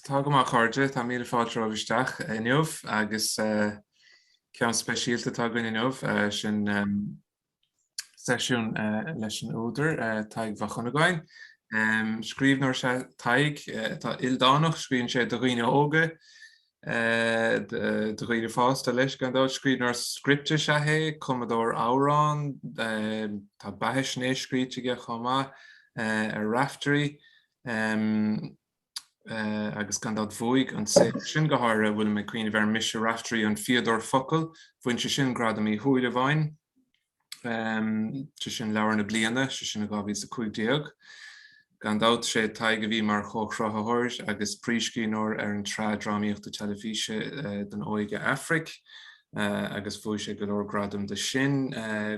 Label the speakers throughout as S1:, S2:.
S1: Tá go maith, a chairde. Tá míle fáilte romhaibh isteach inniu agus ceann speisialta atá againn inniu, sin seisiún leis an údar, Tadhg Mhac Dhonnagáin. Scríbhneoir is ea Tadhg atá ildánach, scríobhann sé do dhaoine óga, do dhaoine fásta leis gan dabht. Scríbhneoir scripte is ea é, cumadóir amhrán, tá beathaisnéis scríte aige chomh maith ar Raiftearaí. agus gan dabht bhuaigh an saothar sin go háirithe a bhfuilim ag cuimhneamh air, Mise Raiftearaí an Fíodóir Focal, bhain sé sin Gradam Uí Shúilleabháin, sé sin Leabhar na Bliana, sé sin i 2015. Gan dabht sé Tadhg a bhí mar chomhchruthaitheoir agus príomhscríbhneoir ar an tsraith drámaíochta teilifíse don óige Aifric agus bhuaigh sé go leor gradam de sin,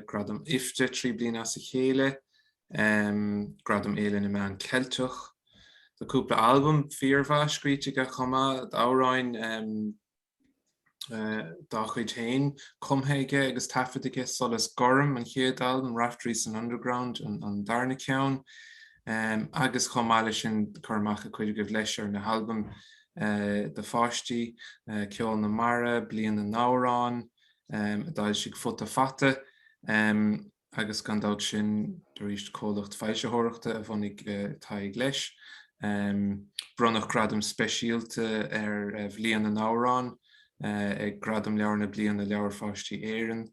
S1: Gradam IFTA trí bliana as a chéile, Gradam Fhéile na Meán Ceilteach. Tá cúpla albam fíormhaith scríte aige chomh maith, d'amhráin dá chuid féin cumtha aige agus taifeadta aige, Solas Gorm an chéad albam, Raiftéirí san Underground an darna ceann, agus chomh maith leis sin cur amach ag cuid agaibh leis ar na halbaim do pháistí, Ceol na Mara, Bliain na nAmhrán, a d'fhoilsigh Futa Fata. agus gan dabht sin arís comhlacht foilsitheoireachta a bhunaigh Tadhg leis. Bronnadh gradam speisialta ar Bhliain na nAmhrán ag Gradaim Leabhar na Bliana Leabhair Pháistí Éireann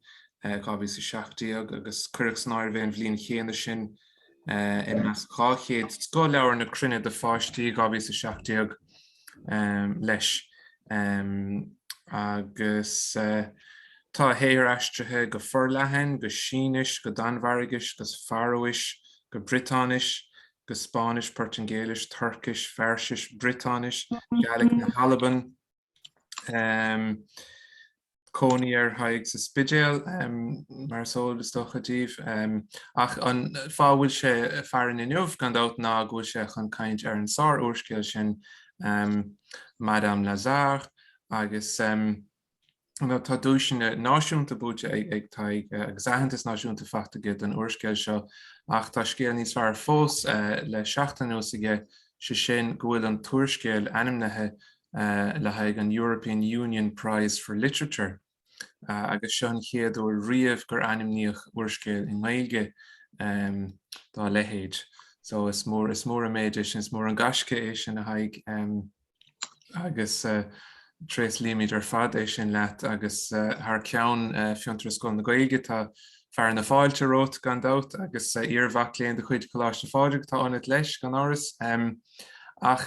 S1: 2017 agus cuireadh san áireamh é an bhliain chéanna sin i measc 200 scothleabhar na cruinne do pháistí 2017. leis agus tá a shaothar aistrithe go forleathan, go Sínis, go Danmhairgis, go Faróis, go Briotáinis, go Spáinnis, Portaingéilis, Tuircis, Fairsis, Briotáinis, Gaeilic na hAlban, cónaí ar Thadhg sa Spidéal, mar is eol, is dócha, daoibh. Ach an fáth a bhfuil sé farainn inniu, gan dabht, ná go bhfuil sé chun caint ar an sár-úrscéal sin Madame Lazare agus tá duaiseanna náisiúnta buaite ag Tadhg agus aitheantas náisiúnta fachta aige don úrscéal seo. Ach tá scéal níos fearr fós le seachtain anuas aige, sé sin go bhfuil an t-úrscéal ainmnithe le haghaidh an European Union Prize for Literature agus seo an chéad uair riamh gur ainmníodh úrscéal i nGaeilge dá leithéid. So is mór is mór an méid é sin, is mór an gaisce é sin a Thaidhg agus tréaslaímid ar fad é sin leat agus thar ceann Fiontar is Scoil na Gaeilge tá fearadh na fáilte romhat gan dabht agus iarmhac léinn de chuid Choláiste Phádraig atá ionat leis gan amhras. Ach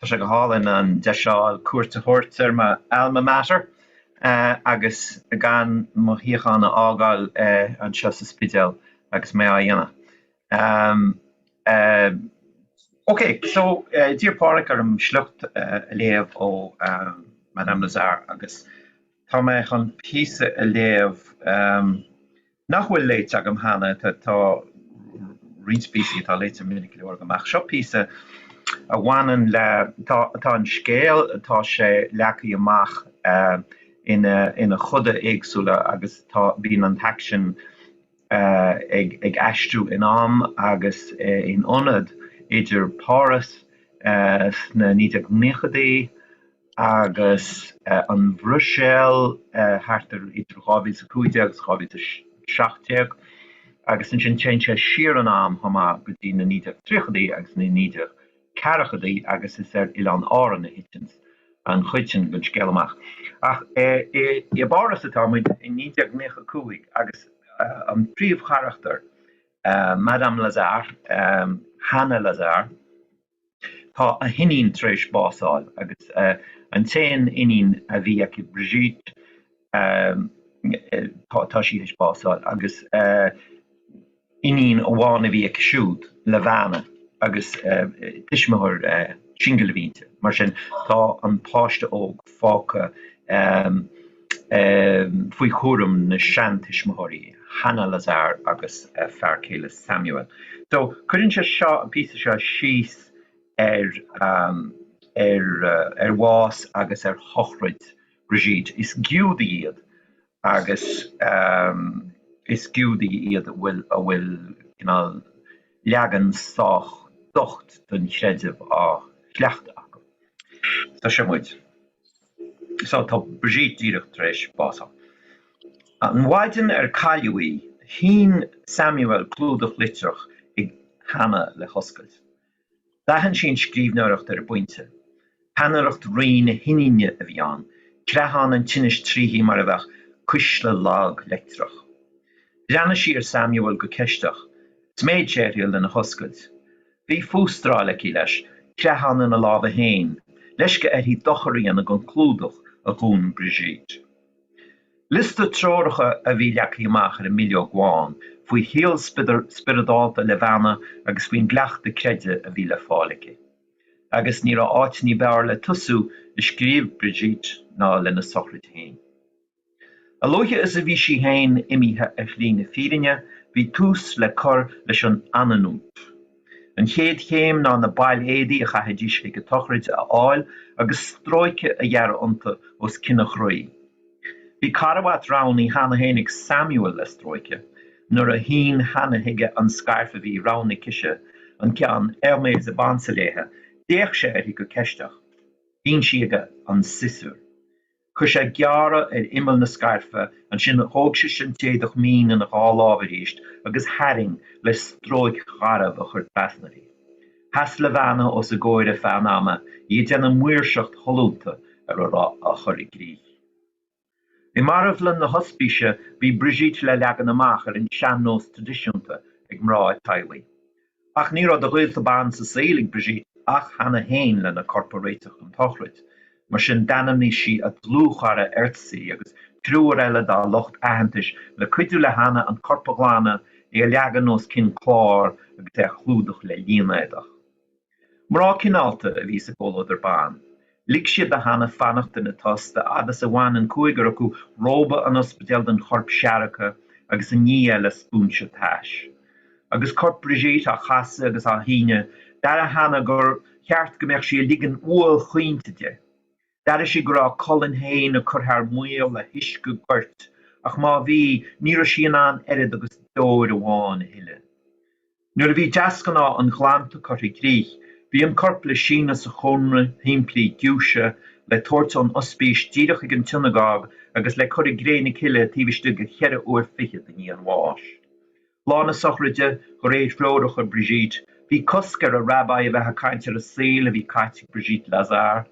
S2: Tá sé go hálainn an deis seo cuairt a thabhairt ar mo alma mater agus gan mo shuíochán a fhágáil anseo sa Spidéal agus mé á dhéanamh. Océ. So, d'iarr Páraic orm sliocht a léamh ó Madame Lazare agus tá mé chun píosa a léamh nach bhfuil léite agam cheana, tá roinnt píosaí atá léite minic go leor agam ach seo píosa a bhaineann le, tá an scéal, tá sé leagtha amach ina choda éagsúla agus tá, bíonn an t-aicsean ag aistriú in am agus in ionad idir Páras sna 1990idí, agus an Bhruiséil thart ar idir 2015 agus 2017 agus ansin téann sé siar in am chomh maith go dtí na 1930idí agus na 1940idí agus is ar Oileán Árann a thiteann an chuid sin den scéal amach ach i bPáras atá muid i 1995 agus an príomhcharachtar, Madame Lazare, Hana Lazare. Tá a hiníon tar éis básáil agus an t-aon iníon a bhí aici, Brigitte, tá sí tar éis básáil agus iníon amháin a bhí aici siúd, Levana, agus tuismitheoir singil a bhí inti. Mar sin, tá an páiste óg fágtha. faoi chúram na seantuismitheoirí, Hana Lazare agus a fear céile Samuel. So, cuireann sé seo, an píosa seo, síos ar ar bhás agus ar shochraid Brigitte. Is Giúdaigh iad agus is Giúdaigh iad a bhfuil cineál leagan sách docht don chreideamh á chleachtadh acu. So, seo muid. So, tá Brigitte díreach tar éis bás a fháil. An mhaidin ar cailleadh í, shín Samuel clúdach litreach chuig Hana le hoscailt. D'aithin sí an scríbhneoireacht ar an bpointe. Peannaireacht righin a hiníne a bhí ann, creathán an tinnis tríthi mar a bheadh cuisle lag leictreach. Bhreathnaigh sí ar Samuel go ceisteach. Sméid sé uirthi lena hoscailt. Bhí fústráil aici leis, creathán ina lámha féin, leisce uirthi dochar a dhéanamh don chlúdach a dhún Brigitte. Liosta treoracha a bhí leagtha amach ar an mbileog bhán faoi shaol spioradálta Levana agus faoin gcleachtadh creidimh a bhí le fáil aici. Agus ní raibh áit ní b'fhearr le tosú a scríobh Brigitte ná lena sochraid féin. A luaithe is a bhí sí féin imithe ar shlí na fírinne, bhí tús le cur leis an aninut. An chéad chéim ná na baill éadaí a chaithfidís ag an tsochraid a fháil agus stróiceadh a ghearradh iontu os cionn an chroí. Bhí carbhat roghnaithe cheana féin ag Samuel le stróiceadh. Nuair a shín Hana chuige an scairf a bhí roghnaithe aicise an ceann Hermes a b'ansa léithe, d'fhéach sé uirthi go ceisteach. Shín sí chuige an siosúr. Chuir sé gearradh ar imeall na scairfe, ansin thóg sise an t-éadach mín ina dhá lámh arís agus tharraing le stróic gharbh a chur trasna uirthi. Sheas Levana os a gcomhair ar feadh an ama í ag déanamh maoirseacht shollúnta ar a raibh á chur i gcrích. I marbhlann na hospíse bhí Brigitte le leagan amach ar an sean-nós traidisiúnta ag mná an teaghlaigh. Ach ní raibh de ghaolta ban sa saol ag Brigitte ach Hana féin lena corp a réiteach don tsochraid, mar sin d'ainmnigh sí a dlúthchara Erzsi agus triúr eile dá lucht aitheantais le cuidiú le Hana an corp a ghlanadh, é a leagan os cionn cláir agus é a chlúdach le línéadach. Mná cineálta a bhí sa gcomhluadar ban, Lig siad do Hana fanacht ina tost a fhad is a bhain an cúigear acu róba an ospidéil den chorp seargtha agus a nigh é le spúinse tais. Agus corp Brigitte á chasadh agus á shíneadh, d'airigh Hana gur cheart go mbeadh sí ag ligean uaill chaointe di. D'airigh sí go raibh a colainn féin ag cur thar maoil le huisce goirt, ach má bhí, ní raibh sí in ann oiread agus deoir amháin a shileadh. Nuair a bhí deasghnáth an ghlanta curtha i gcrích, bhí an corp le síneadh sa chónra shimplí giúise, le tabhairt ón ospís díreach chuig an tsionagóg agus le cur i gcré na cille taobh istigh de cheithre uair fichead i ndiaidh an bháis. Lá na sochraide, de réir threoracha Brigitte, bhí cosc ar a' rabbi a bheith ag caint ar an saol a bhí caite ag Brigitte Lazare.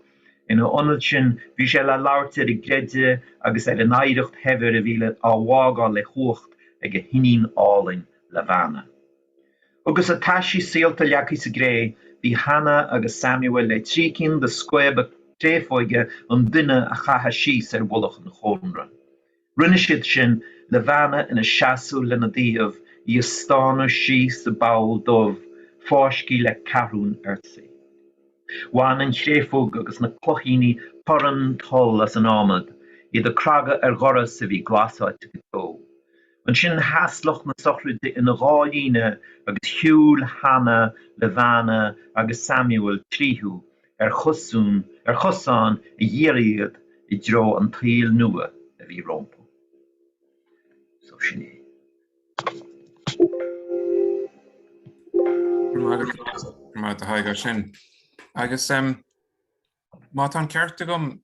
S2: Ina ionad sin, bhí sé le labhairt ar an gcreideamh agus ar an oidhreacht shaibhir a bhí le á bhfágáil le huacht ag a hiníon álainn, Levana. Agus a taisí saolta leagtha sa gcré, bhí Hana agus Samuel le trí cinn de scaoba créafóige an duine a chaitheadh síos ar mhullach an chónra. Rinne siad sin, Levana ina seasamh lena dtaobh, í ag stánadh síos sa bpoll dubh, fáiscthe le ceathrúin Erzsi. Bhain an chréafóg agus na cloichíní torann toll as an ádhmad, iad ag cnagadh ar dhoras a bhí glasáilte go deo. Ansin sheas lucht na sochraide ina dhá líne agus shiúil Hanna le Bheanna agus Samuel tríothu ar chosún, ar chosán a dhírigh iad i dtreo an tsaoil nua a bhí rompu. So sin é.
S1: Go raibh maith agat, a Thaidhg, as sin. Agus má tá an ceart agam,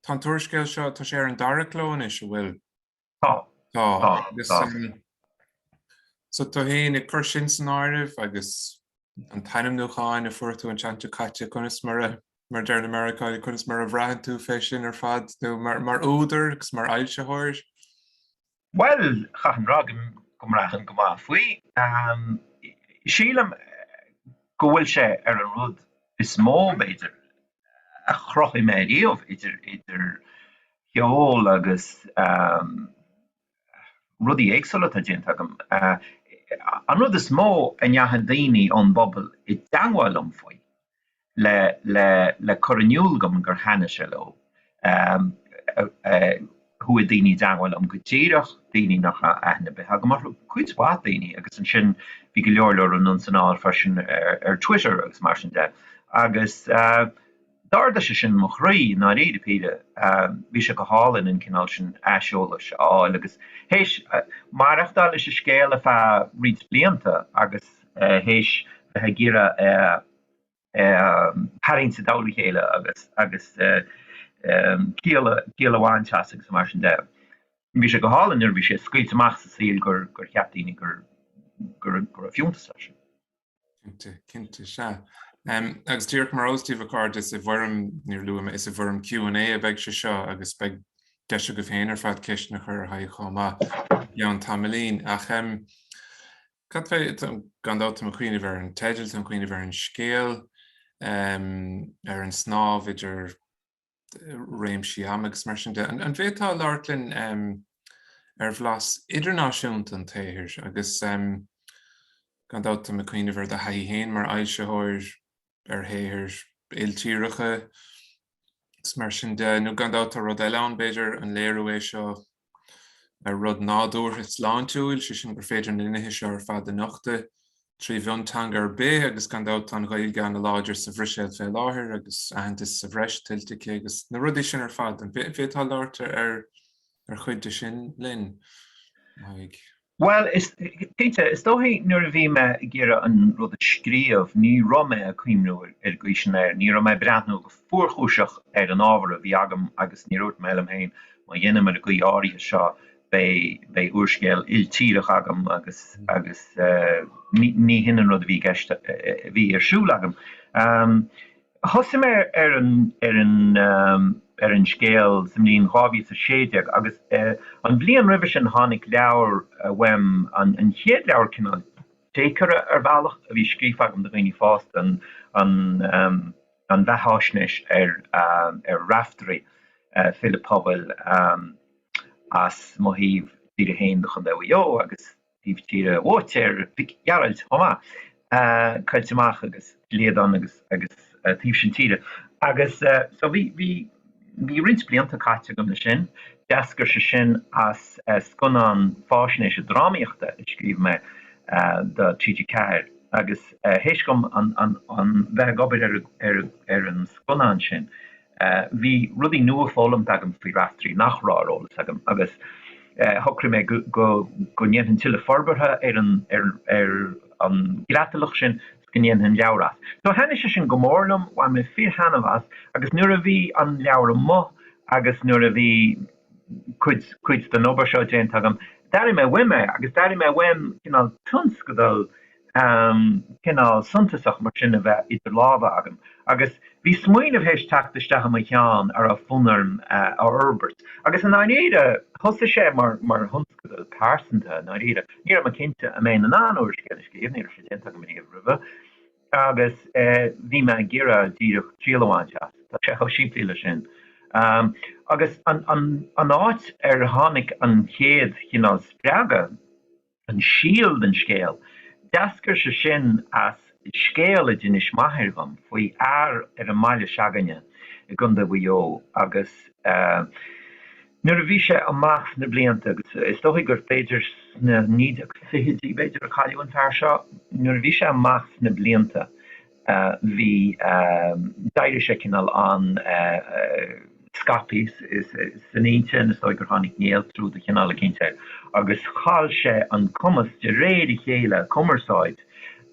S1: tá an t-úrscéal seo, tá sé ar an dara cló anois, an bhfuil? Tá. Tá. Tá. Agus Tá. um, so tú féin ag cur sin san áireamh agus an t-ainmniúchán a fuair tú an tseachtain seo caite conas mar a mar deir na Meiriceánaigh conas mar a bhraitheann tú fé sin ar fad nó mar mar údar agus mar
S2: fhoilsitheoir. Bhuel, chaithfinn a rá go go mbraithim go maith faoi. Um, sílim go bhfuil sé ar an rud is mó, b'fhéidir, a chruthaigh mé riamh, idir cheol agus rudaí éagsúla atá déanta agam. An rud is mó a ndeachaigh daoine ón bpobal i dteagmháil liom faoi, le cur in iúl dom gur thaitnigh sé leo, Chuaigh daoine i dteagmháil liom go díreach, daoine nach raibh aithne ar bith agam orthu, cuid mhaith daoine, agus ansin bhí go leor leor anonn 's anall freisin ar Twitter agus mar sin de. Agus d'ardaigh sé sin mo chroí ó dháiríre píre, bhí sé go hálainn an cineál sin aiseolais a fháil agus théis maireachtáil leis an scéal ar feadh roinnt blianta agus théis bheith ag iarraidh a. tharraingt i dtólamh a chéile agus ciall a bhaint as agus mar sin de. Bhí sé go hálainn nuair a bhí sé scaoilte amach sa saol gur cheap daoine go raibh fiúntas leis sin.
S1: Cinnte, cinnte, sea. Agus díreach mar óstach a chairde is i bhfoirm, níor luaigh mé, is i bhfoirm Q&A a bheidh sé seo agus beidh deis agaibh féin ar fad ceisteanna a chur ar Thadhg chomh maith i gceann tamaillín. Ach. Cad fé, gan dabht, tá mé ag cuimhneamh ar an teideal, tá mé ag cuimhneamh ar an scéal, ar an snámh idir réimsí ama agus mar sin de. An bhféadfá labhairt linn ar bhlas idirnáisiúnta an tsaothair agus, gan dabht, tá mé ag cuimhneamh ar do thaithí féin mar fhoilsitheoir, ar shaothair iltíreacha is mar sin de, nó gan dabht tá rud eile ann, b'fhéidir, an léiriú é seo ar rud nádúrtha sláintiúil, sé sin gur féidir na nithe seo ar fad a nochtadh trí mhionteanga ar bith agus gan dabht tá an Ghaeilge an-láidir sa Bhruiséil fé láthair agus aitheantas sa bhreis tuillte aici agus na rudaí sin ar fad. An bhféadfá labhairt ar chuid de sin linn?
S2: Bhuel, is cinnte, is dóichí, nuair a bhí mé ag iarraidh an rud a scríobh, ní raibh mé ag cuimhniú ar ghaois an áir, ní raibh mé ag breathnú go fuarchúiseach ar an ábhar a bhí agam agus níor dhúirt mé liom féin, má dhéanaim ar an gcaoi áirithe seo, beidh, beidh úrscéal iltíreach agam agus, agus, eh, ní, ní hin an rud a bhí i gceist, a bhí ar siúl agam. Ahm. Thosaigh mé ar an ar an ar an scéal sa mbliain 2016 agus an bhliain roimhe sin tháinig leabhar uaim, an an chéad leabhar cineál deacair ar bhealach a bhí scríofa agam do dhaoine fásta, an an an bheathaisnéis ar ar Raiftearaí, file pobail as mo thaobh tíre féin de Chontae Mhaigh Eo agus. taobh tíre Uaitéir Mhic Gearailt chomh maith, Coillte Mach agus Liadáin agus taobh sin tíre. Agus so bhí bhí roinnt blianta caite agam le sin. D'eascair sé sin as scannán faisnéise drámaíochta a scríobh mé do TG4 agus théis dhom a bheith ag obair ar an scannán sin Bhí rudaí nua foghlamtha agam faoi Raiftearaí nach raibh ar eolas agam agus shocraigh mé go ndéanfainn tuilleadh forbartha ar an gcreatalach sin is go ndéanfainn leabhar as. So thaitnigh sé sin go mór liom, bhain mé fíor-thaithneamh as agus nuair a bhí an leabhar amuigh agus nuair a bhí cuid den obair seo déanta agam, d'airigh mé uaim é agus d'airigh mé uaim cineál tionscadal am cineál suntasach mar sin a bheith idir lámha agam, agus bhí smaoineamh théis teacht isteach i mo cheann a raibh fonn orm a fhorbairt. Agus i ndáiríre, thosaigh sé mar thionscadal pearsanta, i ndáiríre. Ní raibh mé cinnte an mbeinn in ann úrscéal a scríobh, ní raibh sé déanta agam riamh roimhe, agus bhí mé ag iarraidh díreach triail a bhaint as. Tá sé chomh simplí leis sin. Agus an áit ar tháinig an chéad chineál spreagadh, An síol den scéal, d'eascair sé sin as scéal a d'inis m'athair dhom faoi fhear ar an mbaile se'againne i gContae Mhaigh Eo agus nuair a bhí sé amach sna blianta agus is dóichí gur b'fhéidir sna 1920idí b'fhéidir a cailleadh an fear seo, nuair a bhí sé amach sna blianta bhí, d'éirigh sé cineál an-scaipthe san intinn, is dóigh gur tháinig néaltrú de chineál eicínt air agus chaill sé an cumas de réir a chéile cumarsáid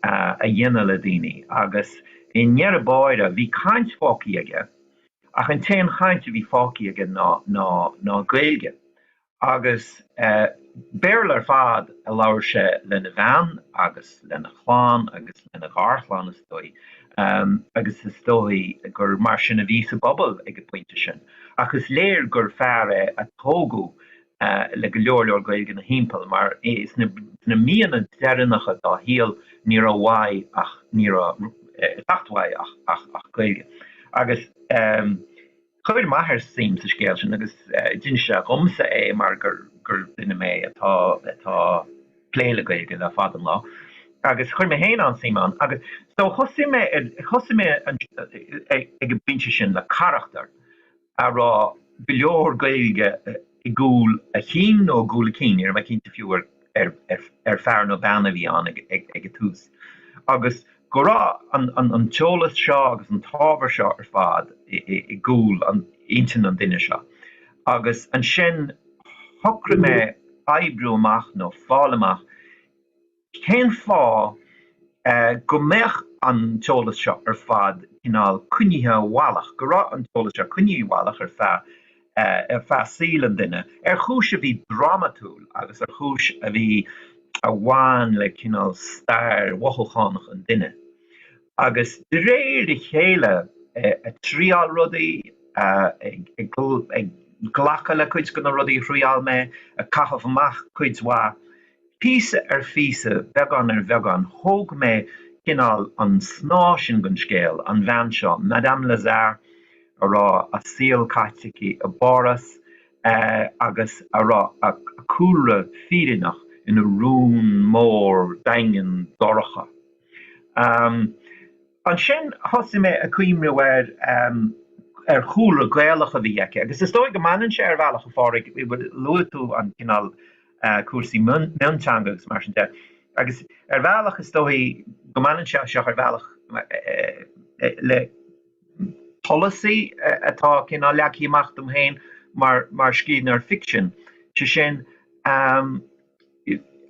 S2: a dhéanamh le daoine agus i ndeireadh báire bhí caint fágthaí aige ach an t-aon chaint a bhí fágthaí aige ná Gaeilge Agus Béarla ar fad a labhair sé lena bhean agus lena chlann agus lena gharchlann, is dóigh, agus is dóigh gur mar sin a bhí sa bpobal ag an bpointe sin. Ach is léir gur fear é a tógadh le go leor leor Gaeilge ina thimpeall, mar sna míonna deireanacha dá shaol ní raibh uaidh ach, ní raibh ag teacht uaidh ach Gaeilge. Agus. Chuir m'athair suim sa scéal sin agus d'inis sé dhomsa é mar gur duine mé atá ag plé le Gaeilge le fada an lá agus chuir mé féin an-suim ann agus so thosaigh mé ag an bpointe sin le carachtar a raibh go leor Gaeilge i gcúl a chinn nó i gcúl a cinn, níl mé cinnte fiú ar fear nó bean a bhí ann ag an tús, agus go raibh an t-eolas seo agus an t-ábhar seo ar fad i gcúl intinn an duine seo. Agus ansin shocraigh mé oibriú amach nó fáil amach Cén fáth go mbeadh an t-eolas seo ar fad cineál coinnithe i bhfolach, go raibh an t-eolas seo coinnithe i bhfolach ar feadh ar feadh saol an duine, ar chúis a bhí drámatúil agus ar chúis a bhí a bhain le cineál stair mhothúchánach an duine? Agus de réir a chéile ag triail rudaí, ag glacadh le cuid de na rudaí a thriail mé, ag caitheamh amach cuid mhaith, Píosa ar phíosa, beagán ar bheagán, thóg mé cineál an snáth sin den scéal, an bhean seo, Madame Lazare, a raibh a saol caite aici i bPáras agus a raibh a cúlra fírinneach ina rún mór daingean dorcha. Ansin thosaigh mé ag cuimhneamh ar chúlra Gaelach a bhí aici agus is dóigh go mbaineann sé, ar bhealach, a Phádraig, bhfuil a fhios agat, luaigh tú an cineál cúrsaí mionteanga agus mar sin de. Agus ar bhealach is dóigh go mbaineann sé seo ar bhealach le polasaí atá cineál leagtha amach dom féin mar scríbhneoir ficsin, sé sin,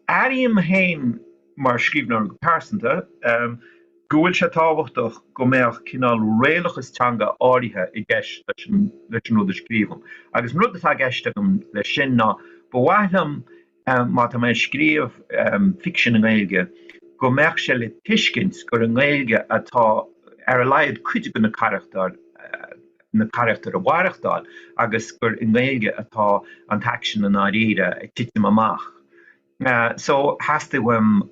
S2: airím féin, mar scríbhneoir go pearsanta, go bhfuil sé tábhachtach go mbeadh cineál réalachas teanga áirithe i gceist leis an rud a scríobhaim. Agus an rud atá i gceist agam leis sin ná, ba mhaith liom má tá mé ag scríobh ficsin i nGaeilge, go mbeadh sé le tuiscint gur i nGaeilge atá ar a laghad cuid de na carachtair, na carachtair ag maireachtáil, agus gur i nGaeilge atá an t-aicsean i ndáiríre ag titim amach. Sea, so theastaigh uaim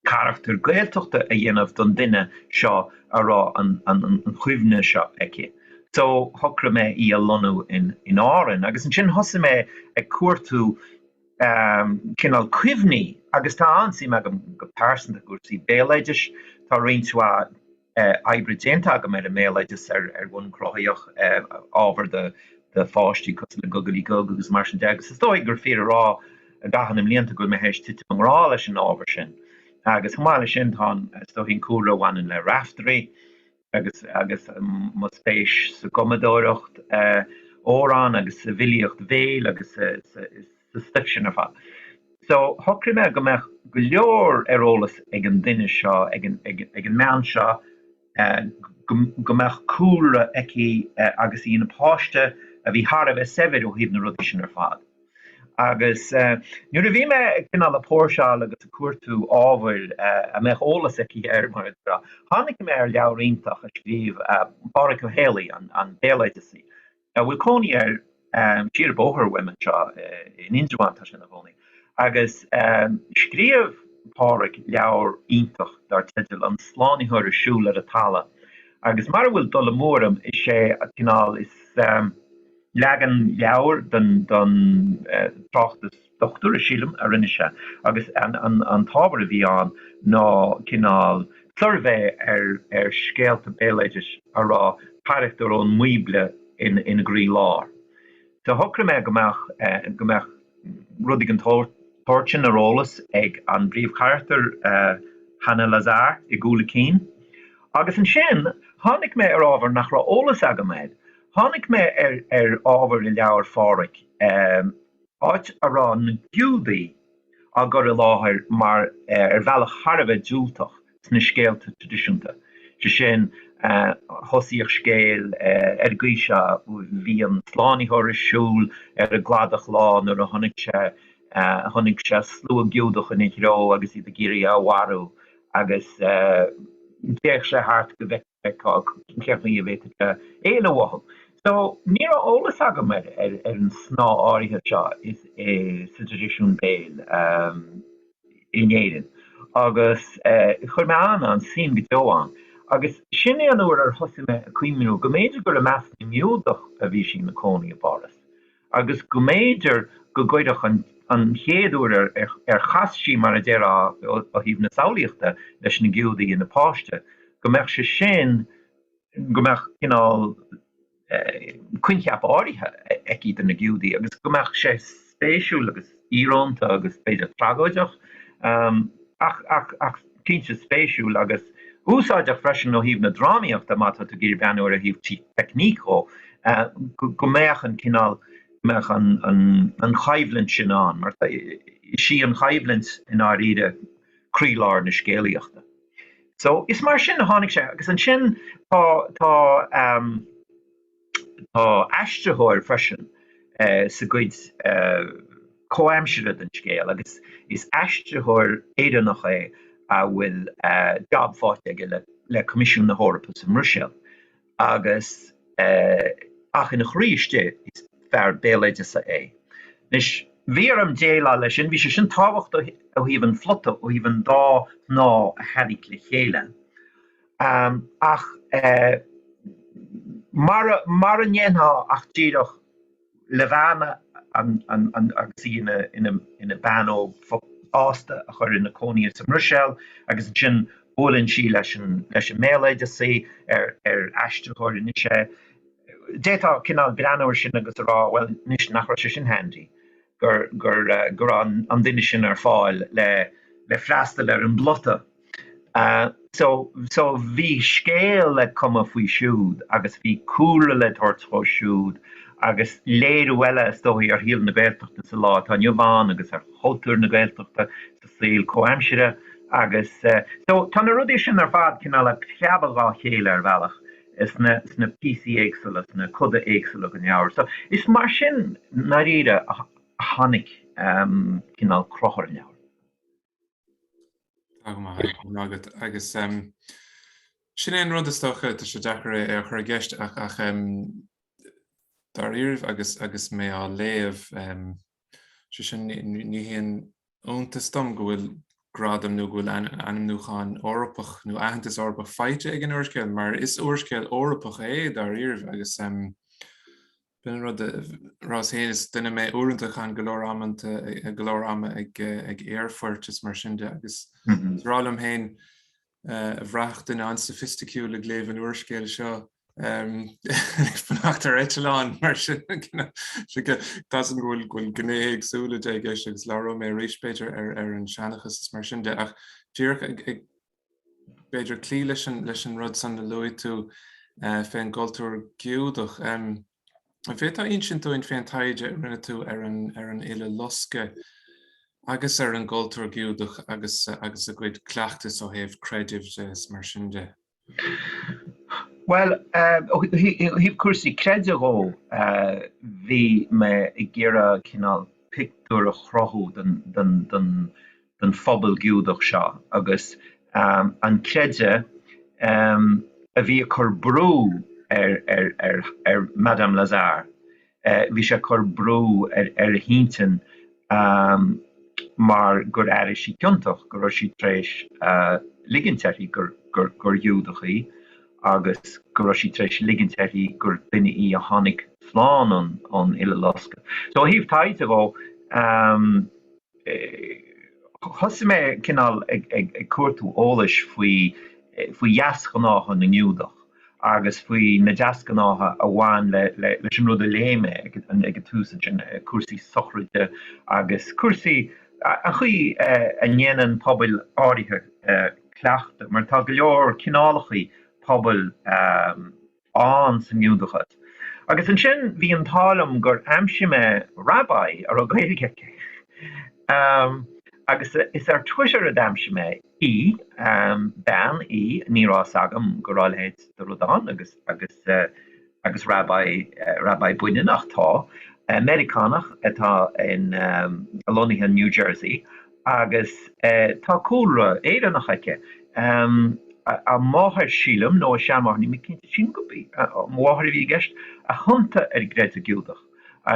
S2: carachtar Gaeltachta a dhéanamh don duine seo a raibh an chuimhne seo aici. So shocraigh mé í a lonnú in Árainn agus ansin thosaigh mé ag cuartú cineál cuimhní agus tá an-suim agam go pearsanta i gcúrsaí béaloidis, tá roinnt mhaith oibre déanta agam ar an mbéaloideas ar bhonn cruthaitheach, ábhar do pháistí cosúil le Gugalaí Gug agus mar sin de, agus is dóichí gur fíor a rá i gcaitheamh na mblianta go bhfuil mé tar éis titim i ngrá leis an ábhar sin. Agus chomh maith leis sin, tá, is dóichí, an cúlra a bhaineann le Raiftearaí agus agus mo spéis sa gcumadóireacht amhrán agus sa bhfilíocht bhéil agus sa sa stuif sin ar fad. So, shocraigh mé go mbeadh go leor ar eolas ag an duine seo, ag an mbean seo, go mbeadh cúlra aici agus í ina páiste a bhí thar a bheith saibhir ó thaobh na rudaí sin ar fad. Agus nuair a bhí mé cineál ag póirseáil agus ag cuartú ábhair a mbeadh eolas aici air, mar a déarfá, tháinig mé ar leabhar iontach a scríobh Pádraig Ó Héalaí, an béaloideasaí, a bhfuil cónaí air siar an bóthar uaim anseo in Indreabhán, tá sé ina chónaí, agus scríobh Pádraig leabhar iontach dar teideal An Slánaitheoir ag Siúl ar an Talamh, agus mara bhfuil dul amú orm, is é an cineál is, leagan leabhair den tráchtas. dochtúra, sílim, a rinne sé agus an t-ábhar a bhí ann ná cineál suirbhé ar scéalta béaloidis a raibh carachtair ón mBíobla ina gcroílár. So shocraigh mé go mbeadh rudaí den tsórt sin ar eolas ag an bpríomhcharachtar, Hana Lazare, i gcúl a cinn. Agus ansin tháinig mé ar ábhar nach raibh eolas agam air. Tháinig mé ar ábhar i leabhar Pháraic. áit a raibh na Giúdaigh á gcur i láthair mar ar bhealach thar a bheith diúltach sna scéalta traidisiúnta, sé sin, thosaíodh scéal ar an gcaoi seo, Bhí an Slánaitheoir ag siúl ar an gcladach lá nuair a chonaic sé chonaic sé slua Giúdach ina threo agus iad ag iarraidh é a mharú agus d'fhéach sé thart go bhfeicfeadh sé cén chaoi a bhféadfadh sé éalú uathu. So, ní raibh eolas agam ar ar ar an snáth áirithe seo sa traidisiún béil in Éirinn agus chuir mé an an-suim go deo ann agus sin é an uair ar thosaigh mé ag cuimhniú go mb'fhéidir gur i measc na nGiúdach a bhí sí ina cónaí i bPáras. agus go mb'fhéidir go gcuirfeadh an chéad uair ar chas sí, mar a déarfá, ó thaobh na samhlaíochta leis na Giúdaigh í ina páiste, go mbeadh sé sin, go mbeadh cineál coincheap áirithe aici do na Giúdaigh agus go mbeadh sé spéisiúil agus íorónta agus b'fhéidir tragóideach ach cinnte spéisiúil agus úsáideach freisin ó thaobh na drámaíochta má tá tú ag iarraidh breathnú air ó thaobh teicníc dhó, go mbeadh an cineál, go mbeadh an choimhlint sin ann mar is í an choimhlint i ndáiríre croílár na scéalaíochta. So is mar sin a tháinig sé agus ansin tá, tá. Tá aistritheoir freisin sa gcuid comhaimseartha den scéal agus is aistritheoir Éireannach é a bhfuil jab faighte aige le Coimisiún na hEorpa sa mBruiséil agus ach ina chroí istigh is fear béaloideasa é. Anois, bhí orm déileáil leis sin, bhí sé sin tábhachtach ó thaobh an phlota, ó thaobh an dá shnáth a tharraingt le chéile ach mara ndéanfá ach díreach Liobhána agus í ina bean óg nó fásta a chur ina cónaí sa mBruiséil agus ansin buaileann sí leis an mbéaloideasaí ar aistritheoir anois é, d'fhéadfá cineál breathnú air sin agus a rá, bhuel anois nach raibh sé sin handy gur raibh an duine sin ar fáil le freastal ar an bplota. so bhí scéal le cumadh faoi siúd agus bhí cúlra le tabhairt dhó siúd agus léiriú eile is dóigh ar shaol na Gaeltachta sa lá atá inniu ann agus ar chultúr na Gaeltachta sa saol comhaimseartha agus so tá na rudaí sin ar fad cineál a' preabadh dhá chéile ar bhealach sna píosaí éagsula, sna coda éagsula den leabhar. So is mar sin ndáiríre a tháinig cineál cruth ar an leabhar.
S1: agus sin é an rud is dócha, tá sé deacair é a chur i gceist ach dáiríribh agus mé á léamh, is é sin, ní haon iontas dom go bhfuil gradam nó go bhfuil ainmniúchán Eorpach nó aitheantas Eorpach faighte ag an úrscéal mar is úrscéal Eorpach é dáiríribh agus B'in an rud arsa mé féin, is duine mé uaireanta a chaitheann go leor ama, go leor ama ag aerfoirt is mar sin de agus mé a rá liom féin a bhraithfeadh duine an-soifisticiúil ag léamh an úrscéil seo ag fanacht ar eitleán mar sin, tá's againn go bhfuil gnéithe éagsúla de i gceist agus labhróidh mé arís b'fhéidir ar an seanchas is mar sin de ach díreach ag b'fhéidir cloí leis an leis an rud san a luaigh tú fén gcultúr Giúdach. An bhféadfá insint dúinn fén taighde a rinne tú ar an ar an Uileloscadh agus ar an gcultúr Giúdach agus agus a gcuid cleachtais ó thaobh creidimh de is mar sin de? Bhuel,
S2: ó thaobh cúrsaí creidimh dhó, bhí mé ag iarraidh cineál pictiúr a chruthú den den den den phobal Giúdach seo agus an creideamh a bhí ag cur brú ar Madame Lazare, bhí sé ag cur brú ar a hintinn mar gur airigh sí ciontach go raibh sí tar éis ligint uirthi gur Ghiúdach í agus go raibh sí tar éis ligint uirthi gur duine í a tháinig slán ón Uileloscadh. So ó thaobh taighde dhó, Thosaigh mé cineál ag cuartú eolais faoi dheasghnátha na nGiúdach agus faoi na deasghnátha a bhain leis an rud a léigh mé ag an tús ansin cúrsaí sochraide agus cúrsaí an chaoi a ndéanann pobail áirithe cleachtadh, mar tá go leor cineálachaí pobail. ann sa nGiúdachas. Agus ansin bhí an t-ádh liom gur aimsigh mé Rabbi a raibh Gaeilge aici. Ahem. Agus is ar Twitter a d'aimsigh mé í. Ahem. Bean í, ní raibh fhios agam go raibh a leithéid de rud ann agus, agus, agus Rabbi, Rabbi baineannach. Tá. Meiriceánach atá in, lonnaithe in New Jersey. agus tá cúlra Éireannach aici. A máthair, sílim, nó a seanmháthair, níl mé cinnte, sílim gurb í a máthair a bhí i gceist, a thiontaigh ar an gcreideamh Giúdach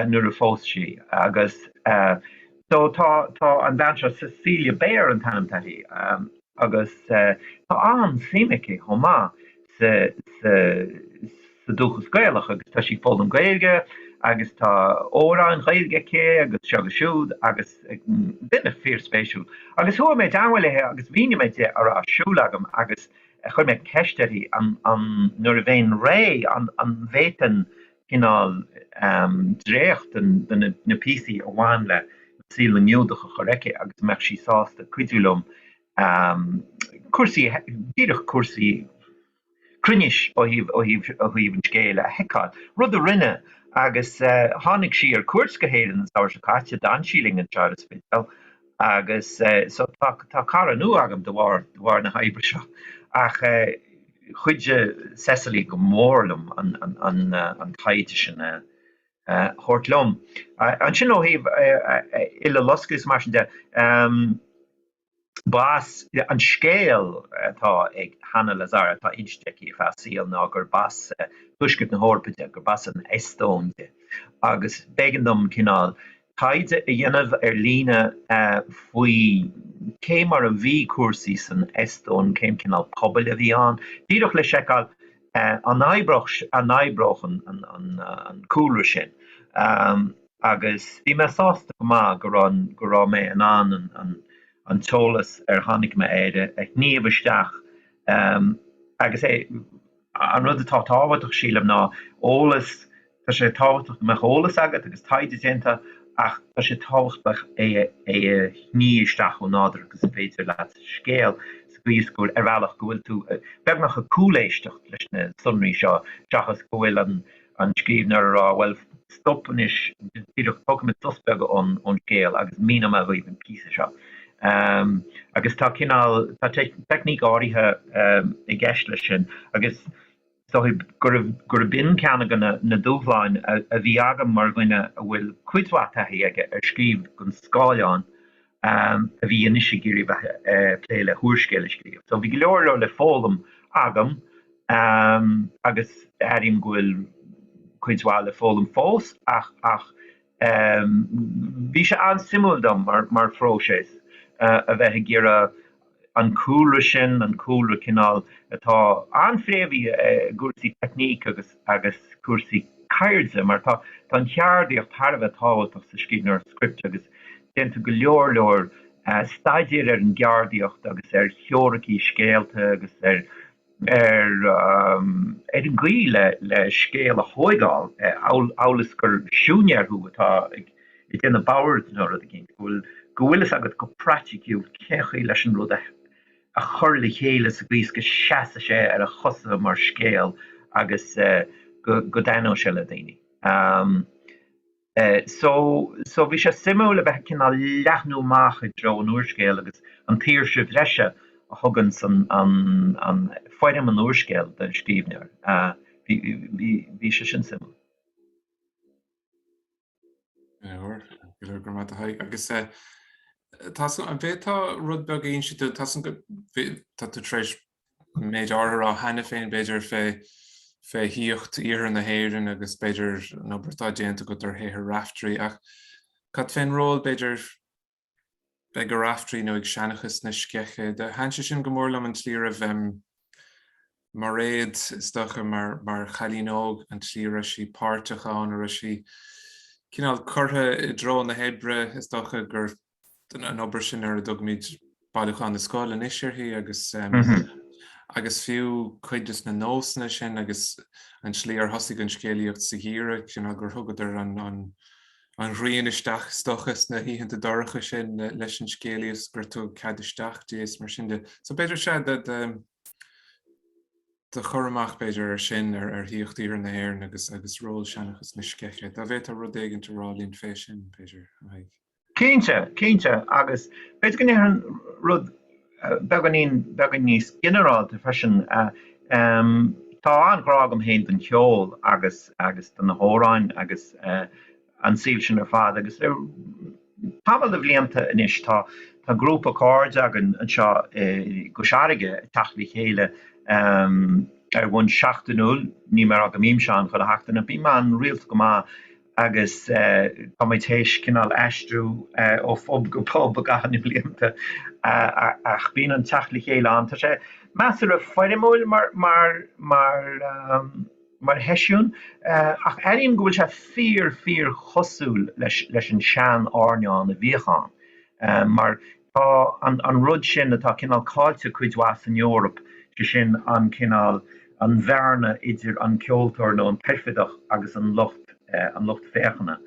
S2: nuair a phós sí agus so tá an bhean seo, Cecilia Bayer an t-ainm atá uirthi. Agus tá an-suim aici chomh maith sa sa sa dúchas Gaelach agus tá sí ag foghlaim Gaeilge agus tá amhráin Ghaeilge aici agus seo agus siúd agus duine fíorspéisiúil. Agus chuaigh mé i dteagmháil léithe agus mhínigh mé di a raibh ar siúl agam agus chuir mé ceist uirthi an an nuair a bhéinn réidh an an bhféadfainn cineál dréachta de na píosaí a bhain le saol na nGiúdach a chur chuici agus an mbeadh sí sásta cuidiú liom cúrsaí, díreach cúrsaí cruinnis ó thaobh an scéil, a sheiceáil. Rud a rinne agus tháinig sí ar cuairt go hÉirinn an samhradh seo caite, d'fhan sí linn anseo ar an Spidéal Agus so tá tá cara nua agam de bharr de bharr na hoibre seo. Ach eh chuidigh Cecily go mór liom an an an eh an taighde sin a eh thabhairt liom. Eh ansin ó thaobh eh eh Uileloscadh is mar sin de, em b'as an scéal atá ag Hanna Lazzara atá inste aici ar feadh a saoil ná gurb as eh Tuaisceart na hEorpa di, gurb as an Eastóin di. Agus b'éigean dom cineál taighde a dhéanamh ar líne faoi cé mar a bhí cúrsaí san Eastóin, cén cineál pobail a bhí ann, díreach le seiceáil an oibreodh an cúlra sin agus bhí mé sásta go maith go raibh mé in ann an t-eolas ar tháinig mé air a shníomh isteach agus é An rud atá tábhachtach, sílim, ná eolas. Tá sé tábhachtach go mbeadh eolas agat agus taighde déanta ach tá sé tábhachtach é a shníomh isteach chomh nádúrtha agus is féidir leat sa scéal sa gcaoi is go bhfuil, ar bhealach, go bhfuil tú beagnach ag cúléisteacht leis na sonraí seo seachas go bhfuil an. an scríbhneoir ag rá, Bhuel, stop anois, díreach tógfaidh muid sos beag ón scéal agus míneoidh mé dhaoibh an píosa seo. Agus tá cineál, tá teicníc áirithe i gceist leis sin agus is dóigh gurb in ceann de na dúshláin a bhí agam mar dhuine a bhfuil cuid mhaith taithí aige ar scríobh don scáileán, a bhí anois ag iarraidh a bheith a' plé le húrscéal a scríobh. So bhí go leor leor le foghlaim agam agus airím go bhfuil cuid mhaith le foghlaim fós ach bhí sé an-suimiúil dom mar phróiseas a bheith ag iarraidh an cúlra sin, an cúlra cineál atá an-phréamhaithe i gcúrsaí teicníc agus agus cúrsaí ceirde, mar tá tá an cheardaíocht thar a bheith tábhachtach sa scríbhneoireacht scripte agus déantar go leor leor staidéir ar an gceardaíocht agus ar theoiricí scéalta agus ar ar an gcaoi le scéal a thóigeáil, amhail is gur siúinéir thú atá ag déanamh boird nó rud eicínt, go bhfuil fhios agat go praiticiúil cén chaoi leis an rud a chur le chéile sa gcaoi is go seasfaidh sé ar a chosa mar scéal agus go dtaitneoidh sé le daoine. So, so bhí sé suimiúil a bheith ag cineál leathnú amach i dtreo an úrscéil agus an tsaoirse bhreise a thugann san, an, an, foirm an úrscéil don scríbhneoir. Bhí, bhí, bhí sé sin suimiúil. Go leor, go leor, go raibh maith agat a Thaidhg. Agus eh, tá san, an
S1: bhféadfá rud beag a insint, tá san go, bhí, tá tú tar éis an méid áirithe ráite cheana féin, b'fhéidir, fé fé shaíocht iarthar na hÉireann agus, b'fhéidir, an obair atá déanta agat ar shaothar Raiftearaí. Ach cad fén ról, b'fhéidir, a bheadh ag Raiftearaí nó ag seanchas na sceiche? Do thaitn sé sin go mór liom, an tslí a raibh Mairéad, is dócha, mar chailín óg, an tslí a raibh sí páirteach ann, go raibh sí cineál curtha i dtreo na hoibre, is dócha, gur. an obair sin ar a dtugmid Bailiúchán na Scol anois uirthi agus agus fiú cuid de na nósanna sin agus an tslí ar thosaigh an scéalaíocht sa gheimhreadh, cineál, gur thugadar an ghrian isteach, is dócha, sna hoícheanta dorcha sin leis an scéalaíocht, gur tugadh cead isteach di is mar sin de. So b'fhéidir is ea do chur amach, b'fhéidir, ar sin ar shaíocht Iarthar na hÉireann agus ról seanchas na sceiche. Dá bhféadfá rud éigin a rá linn fé sin, b'fhéidir, a Thaidhg?
S2: Cinnte, cinnte, agus b'fhéidir go ndéarfainn rud beagáinín, beagáinín níos ginearálta freisin. Tá an-ghrá agam féin don cheol agus, agus do na hamhráin agus an saol sin ar fad agus le tamall de bhlianta anois tá, tá grúpa cairde againn anseo i gCois Fharraige ag teacht le chéile ar bhonn seachtainiúil, níl mé ag rá go mbímse ann chuile sheachtain ach bím ann rialta go maith agus tá muid théis cineál aistriú ó phub go pub i gcaitheamh na mblianta ach bíonn an teacht le chéile ann. Tá sé measartha foirmiúil mar sheisiún ach airím go bhfuil sé fíor, fíor chosúil leis an sean-airneán a bhíodh ann mar Tá an rud sin atá cineál cáillte cuid mhaith san Eoraip, sé sin an cineál, an bhearna idir an ceoltóir nó an t-oirfideach agus an lucht, an lucht féachana.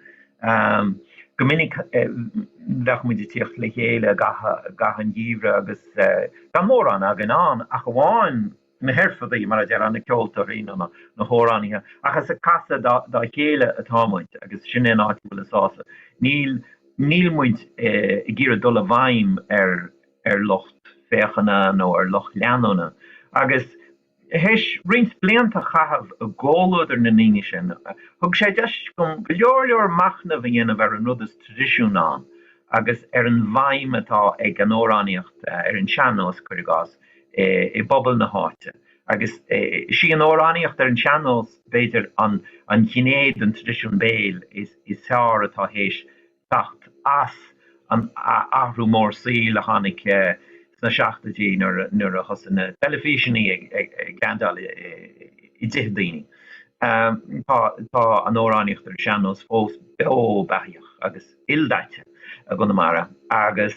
S2: Go minic bheadh muid ag tíocht le chéile i gcaitheamh an gheimhridh agus gan mórán againn ann ach amháin na hoirfidigh, mar a déarfá, na ceoltóirí nó na hamhránaithe, ach is ag casadh dá chéile atá muid agus sin é an áit a bhfuil an sásamh. Níl muid ag iarraidh dul i bhfeidhm ar lucht féachana nó ar lucht leanúna agus théis roinnt blianta a chaitheamh i gcomhluadar na ndaoine sin, thug sé deis dom go leor leor machnaimh a dhéanamh ar an rud is traidisiún ann agus ar an bhfeidhm atá ag an amhránaíocht ar an sean-nós, cuir i gcás. i bpobal na háite. Agus is í an amhránaíocht ar an sean-nós, b'fhéidir, an ghné den traidisiún béil is fearr atá théis teacht as an athrú mór saoil a tháinig sna seachtoidí nuair a thosaigh na teilifíseanna ag landáil i dtithe daoine. Tá an amhránaíocht ar an sean-nós fós beo beathaíoch agus ildaite i gConamara agus.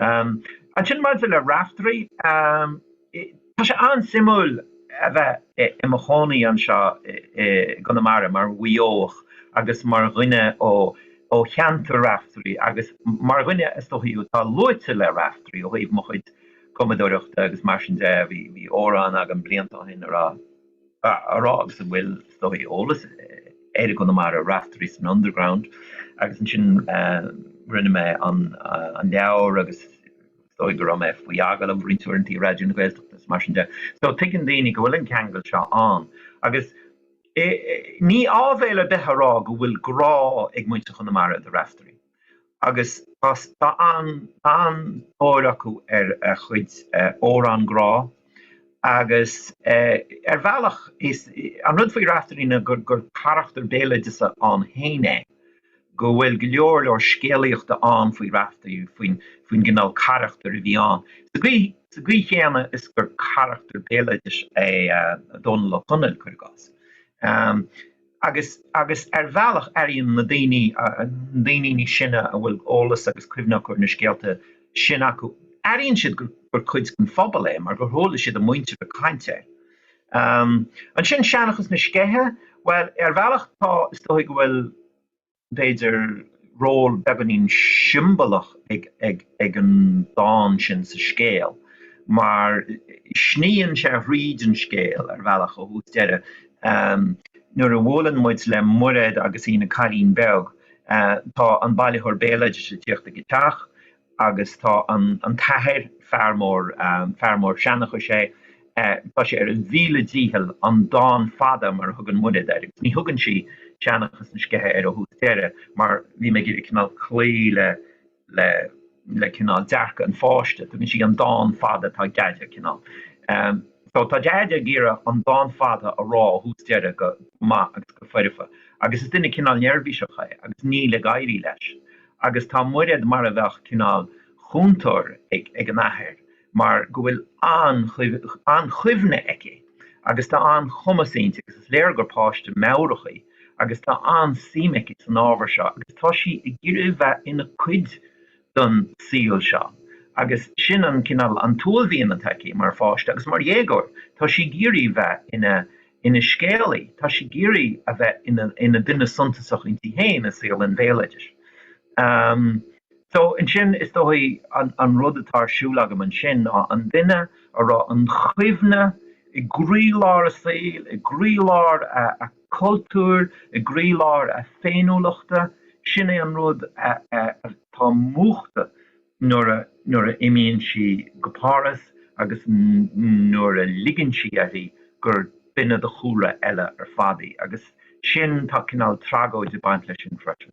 S2: Ansin maidir le Raiftearaí, tá sé an-suimiúil a bheith i mo chónaí anseo i gConamara mar Mhaigh Eoch agus mar dhuine ó cheantar Raiftearaí agus mar dhuine, is dóichí, atá luaite le Raiftearaí ó thaobh mo chuid cumadóireachta agus mar sin de, bhí amhrán agam blianta ó shin a rá. a rá agus a bhfuil, is dóichí, eolas air i gConamara, Raiftearaí san Underground agus ansin rinne mé an an leabhar agus is dóigh go raibh mé faoi agallamh roinnt uaireanta ar Raidió na Gaeltachta is mar sin de. So tuigeann daoine go bhfuil an ceangal seo ann agus eh ní áibhéil ar bith a rá go bhfuil grá ag muintir Chonamara do Raiftearaí. agus tá an-tóir acu ar a chuid amhrán grá agus ar bhealach is an rud faoi Raiftearaí ná gur carachtar béaloideasa ann féin é, go bhfuil go leor leor scéalaíochta ann faoi Raiftearaí, faoin gcineál carachtair a bhí ann, sa gcaoi chéanna is gur carachtar béaloidis é Dónall Ó Conaill, cuir i gcás. agus agus ar bhealach airíonn na daoine, na daoine níos sine a bhfuil eolas agus cuimhne acu ar na scéalta sin acu, airíonn siad gur gur cuid den phobal é mar gur chuala siad a muintir ag caint air. Ansin Seanchas na Sceiche, bhuel, ar bhealach tá, is dóichí go bhfuil, b'fhéidir, ról beagáinín siombalach ag an dán sin sa scéal mar sníonn sé thríd an scéal ar bhealach ó thús deireadh. Nuair a bhuaileann muid le Muraed agus í ina cailín beag, tá an bailitheoir béaloidis ag tíocht ag a teach agus tá an t-athair, fear, fear mór seanchais é, tá sé ar a mhíle dícheall an dán fada, mar a thugann Muraed air, ní thugann sí seanchas na sceiche air ó thús deireadh mar bhí mé ag iarraidh cineál cloí le cineál dearcadh an pháiste, tugann sí an dán fada atá ag Deaide cineál, so tá Deaide ag iarraidh an dán fada a rá ó thús deireadh go maith agus go foirfe agus is duine cineál neirbhíseach é agus níl ag éirí leis agus tá Muraed mar a bheadh cineál chúntóir ag an athair mar go bhfuil an-chuimhne aici agus tá an-chumas inti agus is léir gur páiste meabhrach í agus tá an-suim aici san ábhar seo agus tá sí ag iarraidh a bheith ina cuid den saol seo agus sin an cineál an t-uaillmhian atá aici mar pháiste agus mar dhéagóir tá sí ag iarraidh a bheith ina Ina scéalaí, tá sí ag iarraidh a bheith ina duine suntasach inti féin i saol an bhéaloidis. So, ansin, is dóichí, an rud atá ar siúl agam ansin ná an duine a raibh an chuimhne i gcroílár a saoil, i gcroílár a cultúir, i gcroílár a féiniúlachta, sin é an rud atá múchta nuair a imíonn sí go Páras agus nuair a ligeann sí uirthi gur duine de chúlra eile ar fad í. Agus sin, tá cineál tragóid ag baint leis sin freisin.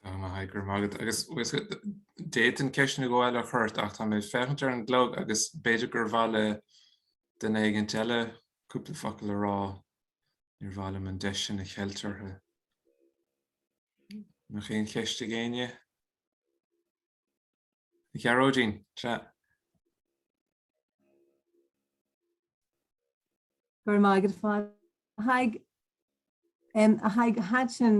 S1: Mm. A Thaidhg, go raibh maith agat. Agus d'fhéadfainn ceisteanna eile a chur ort ach tá mé ag féachaint ar an gclog agus b'fhéidir gur mhaith le duine éigint eile cúpla focal a rá, níor mhaith liom an deis sin a cheilt orthu. An bhfuil aon cheist ag éinne? A Ghearóidín,
S3: sea. Go raibh maith agat a Phádraig. A Thaidhg, thaitin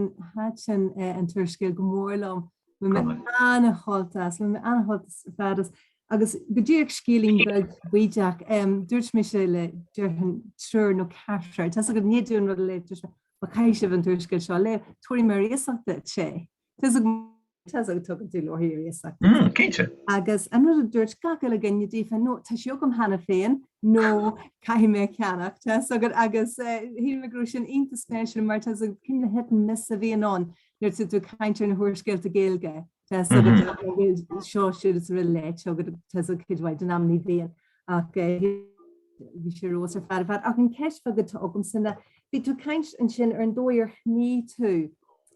S3: an t-úrscéal go mór liom. Bhí mé an-tógtha leis, bhí mé an-tógtha ar fad leis. Agus go dtí, scéilín beag bídeach, dúirt mise le, déarfainn, triúr nó ceathrar, tá a fhios agat, i ndiaidh domh an rud a léamh. Caithfidh sibh an t-úrscéal seo a léamh, tabharfaidh mé ar iasacht daoibh é. Tá a fhios agat. Tá a fhios agat, tugann tú leabharthaí ar iasacht. Mm, cinnte. Agus
S2: an rud a
S3: dúirt gach uile dhuine díofa, ná tá sé agam cheana féin, nó caithfidh mé a cheannach, tá a fhios agat. Agus shíl mé go raibh sin iontach spéisiúil mar tá a fhios agat an cineál hesitance a bhíonn ann nuair atá tú ag caint ar na húrscéalta Gaeilge? seo, siúd is araile, tá a fhios agat, cuid mhaith den am ní bhíonn ach bhí sé rós ar fad ar fad ach an ceist bheag atá agamsa ná bhí tú ag caint ansin ar an dóigh ar shnigh tú,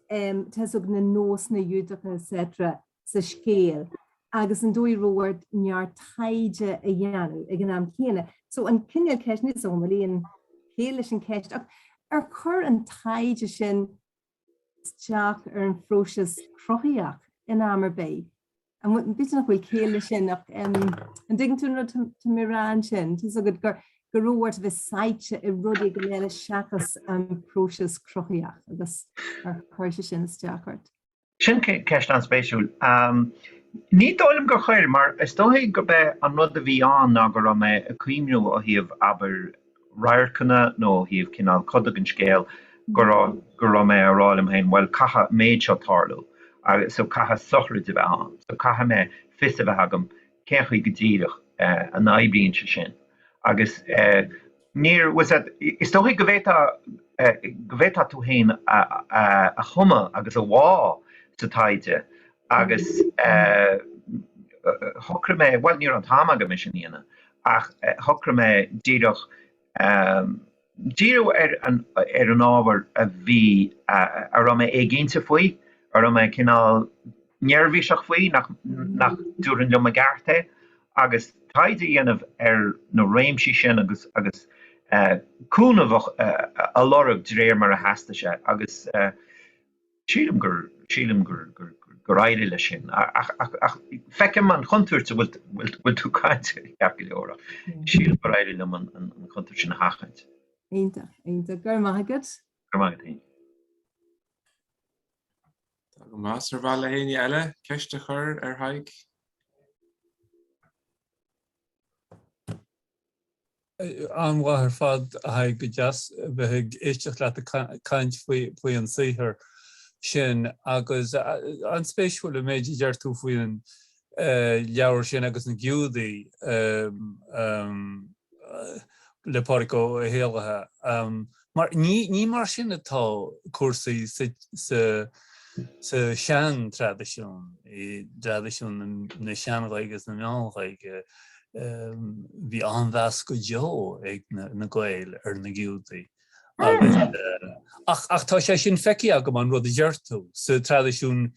S3: tá a fhios agat, na nósanna Giúdacha etc sa scéal agus an dóigh a raibh ort neart taighde a dhéanamh ag an am céanna so an cineál ceist, níl 'fhios agam an bhfuil aon chéill leis an cheist ach ar chuir an taighde sin isteach ar an phróiseas cruthaitheach in am ar bith. An bhfuil, nach bhfuil ciall leis sin ach an dtuigeann tú an rud tá mé a rá ansin? Tá a fhios agat, go raibh ort a bheith sáite i rudaí eile seachas an próiseas cruthaitheach agus ar chuir sé sin isteach ort.
S2: Sin ceist an-spéisiúil. Ní dóigh liom gur chuir mar is dóichí gurb é an rud a bhí ann ná go raibh mé ag cuimhniú ó thaobh abair radharcanna nó ó thaobh cineál codach an scéil go raibh go raibh mé a rá liom féin, bhuel, caithfidh an méid seo tarlú agus so caithfidh sochraid a bheith ann so caithfidh mé fios a bheith agam cén chaoi go díreach a n-oibríonn sé sin agus níor was is dóichí go bhféadfá go bhféadfá tú féin a thumadh agus a bhá sa taighde agus shocraigh mé, bhuel, ní raibh an t-am agam é sin a dhéanamh ach shocraigh mé díreach díriú ar an ábhar a bhí, a raibh mé éiginnte faoi, a raibh mé cineál neirbhíseach faoi nach dtabharfainn liom i gceart é, agus taighde a dhéanamh ar na réimsí sin agus cúnamh a lorg de réir mar a theastaigh sé. Agus. Sílim gur, sílim gur, gur, gur, gur éirigh leis sin. Ach, ach, ach, feicim an chontúirt a bhfuil, bhfuil, bhfuil tú caint air, ceart go leor, ach sílim gur éirigh liom an, an, an chontúirt sin a sheachaint. Iontach, iontach.
S3: Go raibh maith agat. Go raibh maith agat féin.
S1: Tá go maith. Ar mhaith le héinne eile ceist a chur ar Thadhg?
S4: an-mhaith ar fad, a Thaidhg, go deas a bheith ag éisteacht leat ag caint faoi an saothar sin agus an-spéisiúil an méid a deir tú faoin leabhar sin agus na Giúdaigh le Pádraig Ó hÉallaithe. Mar ní mar sin atá cúrsaí sa seantraidisiún, i dtraidisiún na Sean-Ghaeilge agus na Meán-Ghaeilge. Bhí an-mheas go deo ag na Gaeil ar na Giúdaigh. Ach tá sé sin feicthe agam, an rud a deir tú, sa traidisiún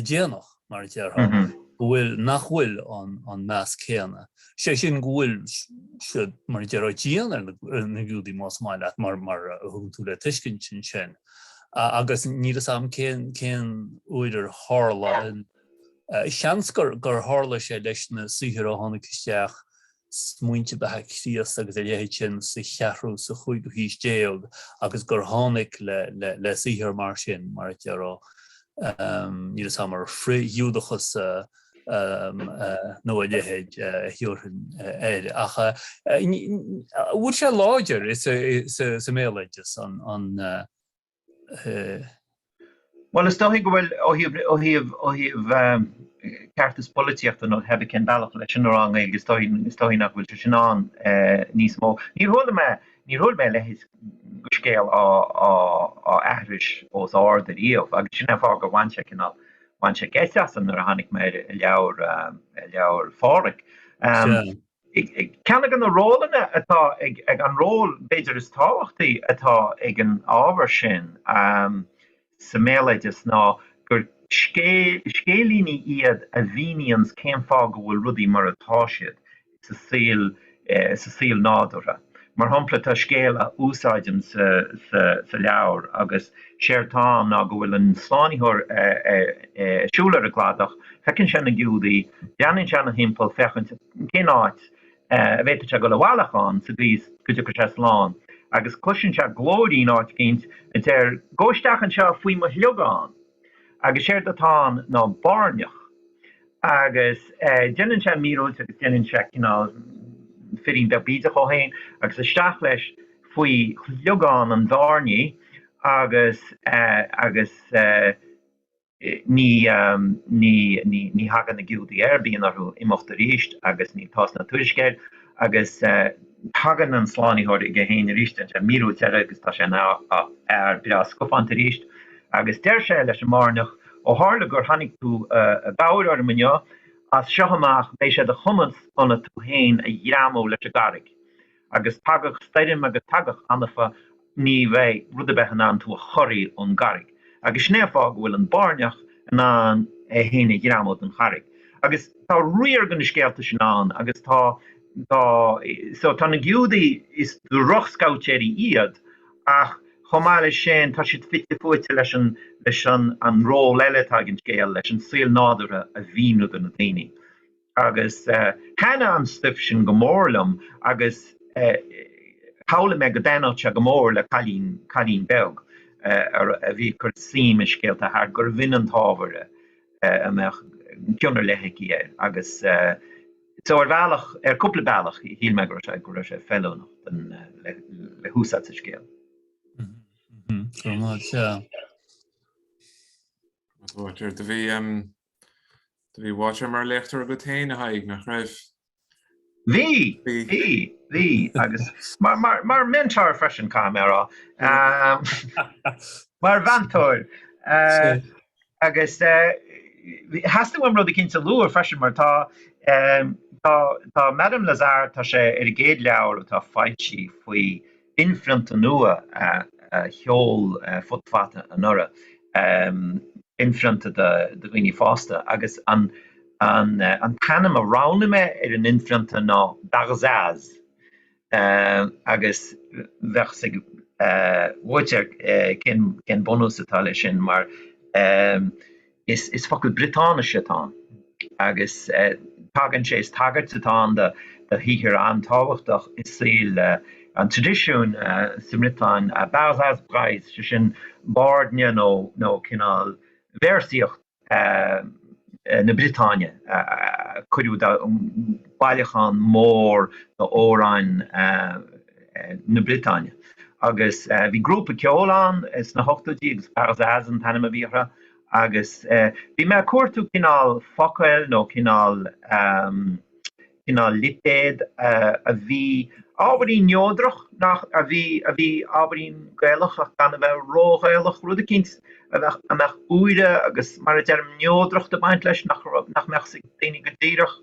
S4: déanach, mar a déarfá, go bhfuil, nach bhfuil an meas céanna, sé sin go bhfuil siad, mar a déarfá, dian ar na Giúdaigh más maith leat, mar a thugann tú le tuiscint ansin. Agus níl fhios agam cén uair a tharla, seans gur tharla sé leis na saothair a tháinig isteach smaointe beatha Chríost agus a leithéid sin sa cheathrú, sa chúigiú haois déag agus gur tháinig le saothar mar sin, mar a déarfá, níl 'fhios a'm, ar, frith-Ghiúdachas nó a leithéid a thiúrfainn air. Ach an bhfuil sé láidir sa mbéaloideas ann?
S2: Bhuel, is dóichí go bhfuil, ó thaobh, ó thaobh, ó thaobh ehm ceartas polaitíochta nó hé bith cén bealach leis sin a rá i nGaeilge, is dóichí, is dóichí nach bhfuil sé sin ann eh níos mó. Níor chuala mé, níor chuala mé a leithéid de scéal á, á, á aithris os ard ariamh agus sin é an fáth gur bhain sé cineál, bhain sé geit asam nuair a tháinig mé air i leabhar, i leabhar Pháraic. Ehm. Sea. Ceann de na rólanna atá ag, an ról b'fhéidir is tábhachtaí atá ag an ábhar sin sa mbéaloideas ná gur scéilíní iad a mhíníonns cén fáth go bhfuil rudaí mar atá siad sa saol nádúrtha. Mar shampla, tá scéal a úsáidim sa leabhar agus séard tá ann ná go bhfuil an slánaitheoir ag siúl ar an gcladach, feiceann sé na Giúdaí, breathnaíonn sé ina thimpeall féachaint cén áit a bhféadfadh sé dul i bhfolach ann sa gcaoi is go dtiocfadh sé slán, agus cloiseann sé glóirín áit éicint a deir, Gabh isteach anseo faoi mo shliogán! Agus séard atá ann ná báirneach. Agus déanann sé míorúilt agus déanann sé cineál firín beag bídeach dhó féin agus isteach leis faoi shliogán an bháirnigh agus agus ní ní ní thagann na Giúdaigh air, bíonn orthu imeacht arís agus níl tásc ná tuairisc air agus. Tagann an Slánaitheoir chuige féin arís déanann sé míorúilt eile agus tá sé ina fhear breá scafánta arís agus deir sé leis an mbáirneach, Ó tharla gur tháinig tú i gcabhair orm inniu, as seo amach beidh sé de chumas ionat tú féin a ghreamú leis an gcarraig agus tagadh stoirm agus tagadh anfa agus. ní bheidh rud ar bith in ann tú a chorraí ón gcarraig, agus sin é an fáth go bhfuil an báirneach in ann é féin a ghreamú den charraig. Agus tá riar de na scéalta sin ann, agus tá, tá, so, tá na Giúdaigh, is drochscabhaitéirí iad, ach chomh maith leis sin, tá siad fite fuaite leis an, leis an, an ról eile atá ag an scéal, leis an saol nádúrtha a mhíniú do na daoine. agus thaithnigh an stuif sin go mór liom agus shamhlaigh mé go dtaithnódh sé go mór le cailín, cailín beag a bhí ag cur suim i scéalta tharla gurbh in an t-ábhar a mbeadh cion ar leith aici air agus so ar bhealach, ar cúpla bealach shíl mé go raibh sé, go raibh sé feiliúnach don, le húsáid sa scéal.
S4: Go maith, sea. Uáitéar,
S1: do bhí, Do bhí Uáitéar mar léachtóir agat féin, a Thaidhg, nach raibh? Bhí,
S2: bhí, bhí, agus mar mentor freisin, caithfidh mé a rá. Mar mheantóir. Agus theastaigh uaim rud éicint a lua freisin mar tá tá Madame Lazare, tá sé ar an gcéad leabhar atá foilsithe faoi inphrionta nua a sheol Futa Fata anuraidh, inphrionta do dhaoine fásta, agus an t-ainm a roghnaigh mé ar an inphrionta ná Barzaz, agus bheadh 's ag Uáitéar cén bunús atá leis sin, mar. Is focal Briotáinise atá ann agus tagann sé, is tagairt atá ann do shaothar an-tábhachtach i saol an traidisiúin sa mBriotáin, Barzaz Breiz, sé sin bairdne nó cineál véarsaíocht na Briotáine a cuireadh de bhailiúchán mór d'amhráin na Briotáine. Agus bhí grúpa ceoil ann sna hochtóidí agus Barzaz an t-ainm a bhí orthu. Agus bhí mé a' cuartú cineál focail nó cineál, ahem, cineál lipéad a bhí ábhairín neodrach, nach, a bhí, a bhí ábhairín Gaelach ach gan a bheith ró-Ghaelach, rud eicínt a bheadh, a mbeadh úire agus mar a deirim, neodracht ag baint leis, nach raibh, nach mbeadh 's ag daoine go díreach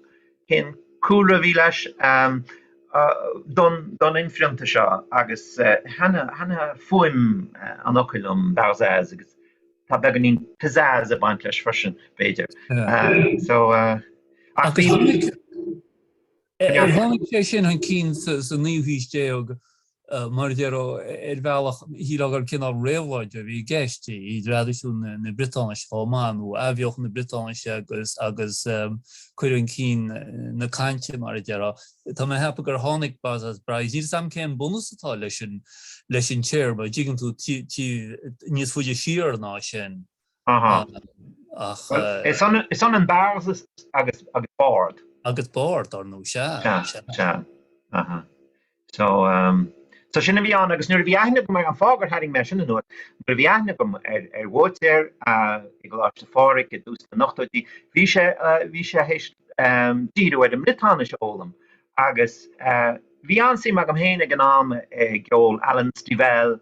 S2: cén cúlra a bhí leis, ahem, don, don inphrionta seo agus thaitnigh fuaim an fhocail liom, barzaz, agus. tá beagáinín pizzazz ag baint leis
S4: freisin, b'fhéidir. So, ach bíonn. Agus tháinig sé sin chun cinn sa naoú haois déag, mar a déarfá, ar bhealach shílfeá gur cineál réabhlóide a bhí i gceist i dtraidisiún na Briotáinise chomh maith, nó athbheochan na Briotáinise agus cur chun cinn na cainte, mar a déarfá. Tá mé ag ceapadh gur tháinig Barzaz Breiz. Níl 's agam cén bunús atá leis an téarma, an dtuigeann tú, taobh níos faide siar ná sin ach.
S2: Bhuel, is ionann barzaz agus bard. Agus
S4: bard, dar ndóigh, sea, sea. Sea,
S2: sea. So sin a bhí ann agus nuair a bhí aithne agam air, an fáth gur tharraing mé é sin anuas, nuair a bhí aithne agam ar Bháitéar i gColáiste Phádraig i dtús na n-ochtóidí, bhí sé, bhí sé th'éis, díriú ar an mBriotáinis a fhoghlaim agus bhí an-suim agam féin ag an am i gceol Alan Stivell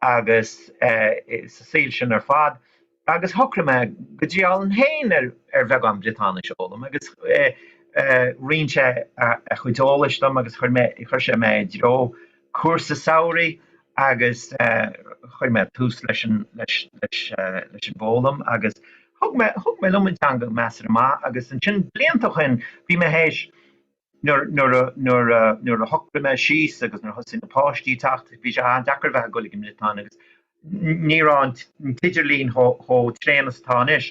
S2: agus sa saol sin ar fad agus shocraigh mé go ndíreoinn féin ar bheagán Briotáinis a fhoghlaim agus roinn sé a chuid eolais dom agus chuir sé mé i dtreo cúrsa samhraidh agus chuir mé tús leis an bhfoghlaim agus thug mé, thug mé liom an teanga, measartha maith. Agus ansin, blianta ó shin, bhí mé théis, nuair a shocraigh mé síos agus nuair a thosaigh na páistí ag teacht, bhí sé an-deacair a bheith ag goil ag an mBriotáin agus Ní raibh an t-idirlíon chomh tréan is atá anois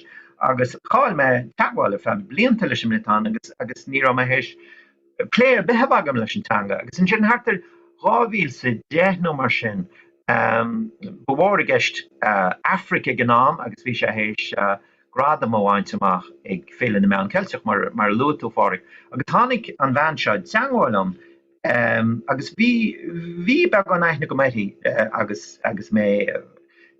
S2: agus chaill mé teagmháil ar feadh blianta leis an mBriotáin agus ní raibh mé théis plé ar bith a bheith agam leis an teanga. Agus ansin thart ar 2010 nó mar sin, ba mhór i gceist Aifric ag an am agus bhí sé théis gradam a bhaint amach ag Féile na Meán Ceilteach, mar a luaigh tú, a Phádraig, agus tháinig an bhean seo i dteagmháil liom. Agus bhí, bhí beagán aithne agam uirthi agus, agus mé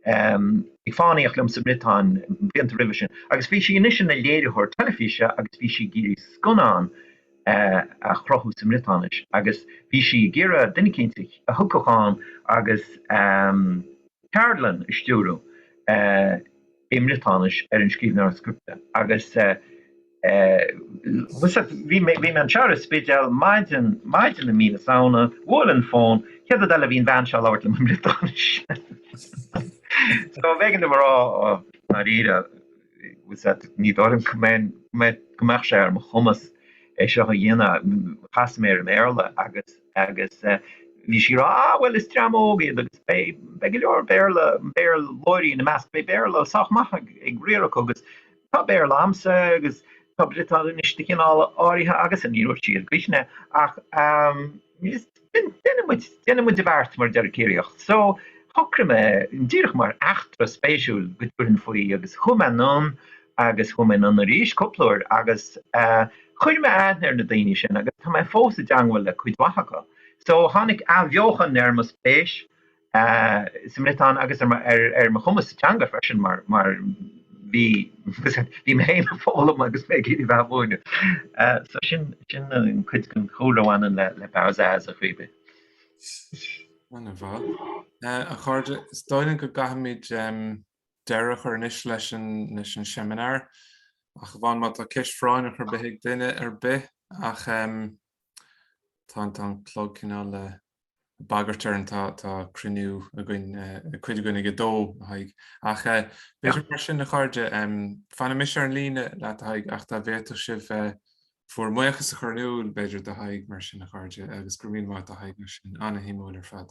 S2: ag fánaíocht liom sa mBriotáin blianta roimhe sin. Agus bhí sí anois ina léiritheoir teilifíse agus bhí sí ag iarraidh scannán a chruthú sa mBriotáinis agus bhí sí ag iarraidh duine eicínt a thiocfadh ann agus ceardlann a stiúradh. i mBriotáinis ar an scríbhneoir scripte agus bhí mé anseo ar an Spidéal maidin i mí na Samhna, bhuail an fón, chéad rud eile bhí an bhean seo ag labhairt liom i mBriotáinis. So b'éigean dom a rá dáiríre ní dóigh liom go mbeadh sé ar mo chumas é seo a dhéanamh, chas mé ar an mBéarla agus, Agus bhí sí a rá, Ah, bhuel, is dream óg iad agus beidh go leor Béarla, Béarlóirí ina measc, beidh Béarla sách maith ag riar acu agus tá Béarla agamsa agus tá Briotáinis de chineál áirithe agamsa. Ní raibh sí ró-chruinn ach déanfaidh muid, déanfaidh muid an beart mar a déarfadh Ciarraíoch. So, shocraigh mé díreach mar eachtra spéisiúil go dtabharfainn faoi agus chuaigh mé anonn agus chuaigh mé anonn arís cúpla uair agus chuir mé aithne ar na daoine sin agus tá mé fós i dteangmháil le cuid mhaith acu. So tháinig athbheochan ar mo spéis sa mBriotáinis agus ar mo chumas sa teanga freisin mar bhí bhí mé féin ag foghlaim agus mé ag iarraidh a bheith ag múineadh. So sin sin cuid den chúlra a bhaineann le le Barzaz a Chaoimhín.
S1: Ana mhaith. A chairde, is dóigh liom go gcaithfimid deireadh a chur anois leis an seimineár, ach amháin má tá ceist phráinneach ar bith ag duine ar bith, ach tá an clog cineál ag bagairt orainn, tá cruinniú againn, cuid againn ag a dó, a Thaidhg. Ach b'fhéidir mar sin, a chairde, fanfaidh mise ar an líne leat, a Thaidhg, ach dá bhféadfadh sibh bhur mbuíochas a chur in iúl, b'fhéidir, do Thadhg mar sin, a chairde, agus go raibh míle maith agat a Thaidhg mar sin, an-shuimiúil ar fad.